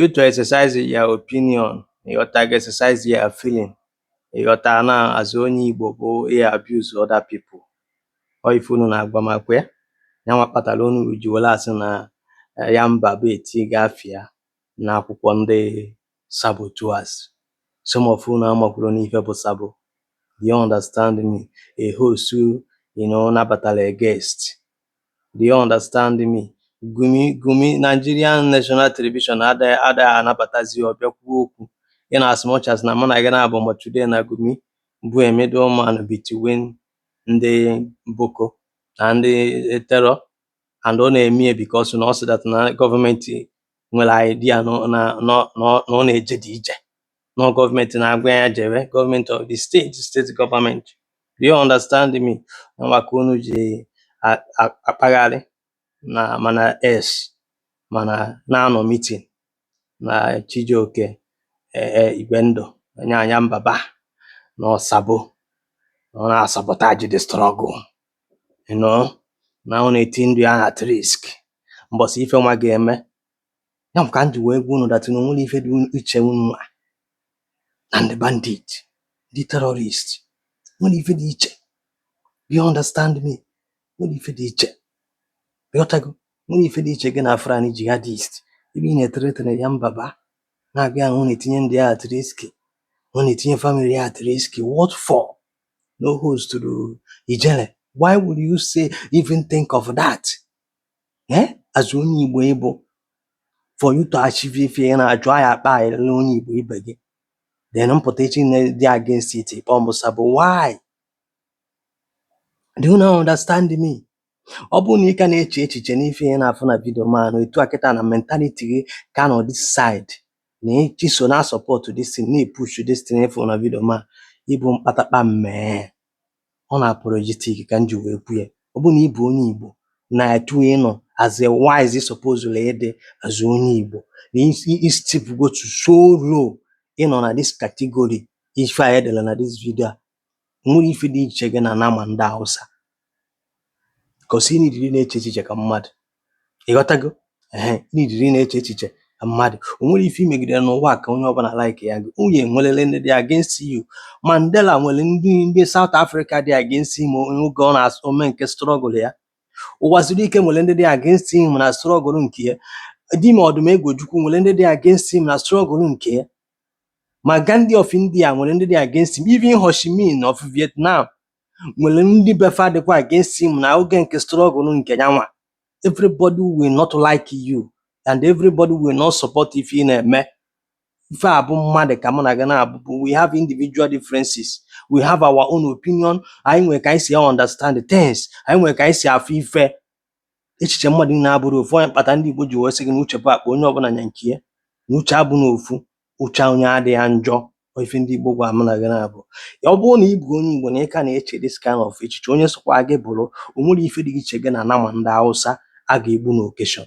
you to exercise your opinion ị ghọta gị exercise your feeling ị ghọta na as onye Igbo bụ ị abuse other people ọ ife unu na-agwa m makwa ya ya nwa kpatara unu ji were asị na eh, Yanbaba etigo afa ya n'akwụkwọ ndị saboteurs some of unu amakwuru n'ife bụ sabo you understand me a host you know nabatara a guest Do you understand me? Gumi Gumi Nigerian National Television ada ada anabatazi ọ bịa kwuo okwu in as much as na mụ na gị na-abụ ma today na Gumi bụ a middleman between ndị Boko na ndị terror and ọ na-eme ya because na ọ sị that na gọọmenti nwere idea na na na na ọ na-eje dị ije Na ọ gọọmenti na-agwa ya jebe gọọmenti of the state steeti gọọmenti do you understand me nwa ka unu ji a- a- akpagharị na mana s mana na-anọ mitin na Chijioke e- e, Igwendu Yanbaba na ọ sabo na ọ na-asabotage the struggle you know na ọ na-eti ndụ ya at risk mbọsị ife nwa ga-eme ya bụ ka m ji wee gwa unu that na onwere ife dị iche unu nwa na ndị bandit ndị terrorist nwere ife dị iche you understand me nwere ife dị iche ịghọtago nwere ife dị iche gị na Fulani jihadist ebe ị na-ethreaten Yanbaba na-agwa ya na ọ na-etinye ndụ ya at risk ọ na-etinye family ya at risk what for na ọ hostụrụ Ijele why would you say even think of that eh as onye Igbo ị bụ for you to achieve ife ị na-achọ ị ya akpa onye Igbo ibe gị then m pụta echi dị against it ị kpọọ m sabo why do you not understand me ọ bụrụ na ị ka na-eche echiche n'ife ị na-afụ na vidio man etu a kịta na mentality gị ka nọ this side na echi so na support this thing na-epush this thing ị fụ na vidio man ị bụ mkpatakpa mmee unapologetic ka m ji wee kwu ya ọ bụrụ na ị bụ onye Igbo na etu ị nọ as a wise ị supposelụ ịdị as onye Igbo na ị stoopugo to so low ị nọ na this category ife a edela na this video a nwere ife dị iche gị na nama ndị Hausa because i needịrị na-eche echiche ka mmadụ Ị ghọtago? Ehe, i needịrị ịna-eche echiche ka mmadụ. O nwere ife i megidere n'ụwa a ka onye ọbụla like ya gị. Unu enweriri ndị dị against you. Mandela nwere ndị ndị South Africa dị against him oge ọ na-asụ ome nke struggle ya. Uwazuruike nwere ndị dị against him na struggle nke ya. Dim Odumegwu Ojukwu nwere ndị dị against him na struggle nke ya. Ma Gandhi of India nwere ndị dị against him. Even Ho Chi Minh of Vietnam nwere ndị be fa dịkwa against him na oge nke struggle nke yanwa everybody will not like you and everybody will not support ife ị na-eme ife a bụ mmadụ ka mụ na gị na-abụbụ we have individual differences we have our own opinion anyị nwere ka anyị si understand things anyị nwere ka anyị si afụ ife echiche mmadụ na-abụrọ ofu ọ nya kpata ndị Igbo ji wee sị gị na uche bụ akpa onye ọbụla nya nke ya na uche abụ na ofu uche onye adịghị njọ ọ ife ndị Igbo gwa mụ na gị na-abụ ya ọ bụrụ na ị bụ onye Igbo na ị ka na-eche this kind of echiche onye sokwa gị bụrụ o nwerọ ife dị iche gị na nama ndị Hausa a ga-egbu n'okeshọn